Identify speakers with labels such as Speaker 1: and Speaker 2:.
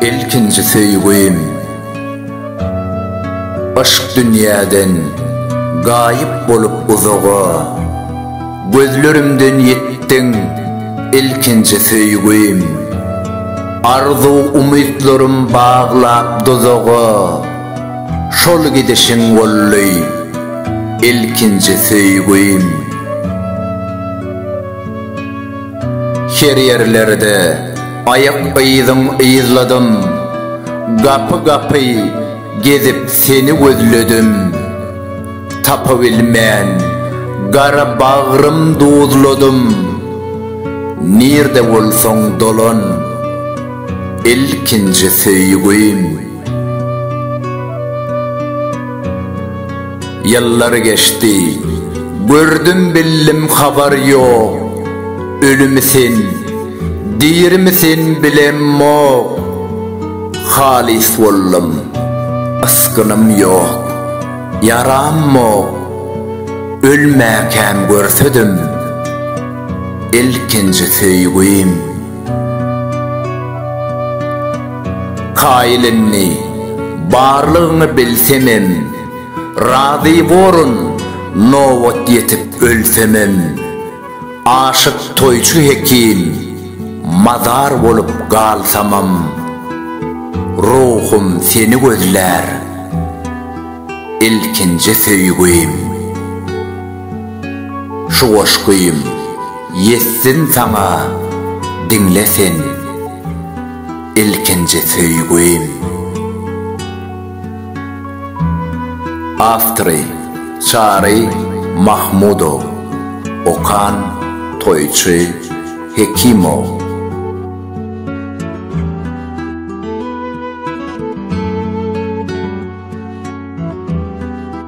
Speaker 1: Ilkinji söýgim Aşk dünýäden gaýyp bolup uzaga Gözlerimden ýitdiň ilkinji söýgim Arzuw umytlarym baglap duzaga Şol gidişiň boldy ilkinji söýgim. Her ýerlerde aýak yzyň yzladym, Gapy-gapy gezip seni gözledim. Tapybilmän gara bagrym duzladym, Nirde bolsaň dolan ilkinji söýgim. Ýyllar geçdi, gördüm bildim habar ýok, Ölümi sen, dirimi sen bilemok, Halys boldum, ysgynym ýok, ýaram mok, Ölmäkäm görsedim, ilkinji söýgim Kaýyl indi, barlygyňy bilsemem, Razy borun, nobat ýetip ölsemem. Aşyk toýçy hekim, mazar bolup galsamam, Ruhum seni gözlär, ilkinji söýgim. Şu goşgym ýetsin saňa diňle sen ilkinji söýgim. Awtory, Çary Mahmudow. Okan, Toýçy Hekimow.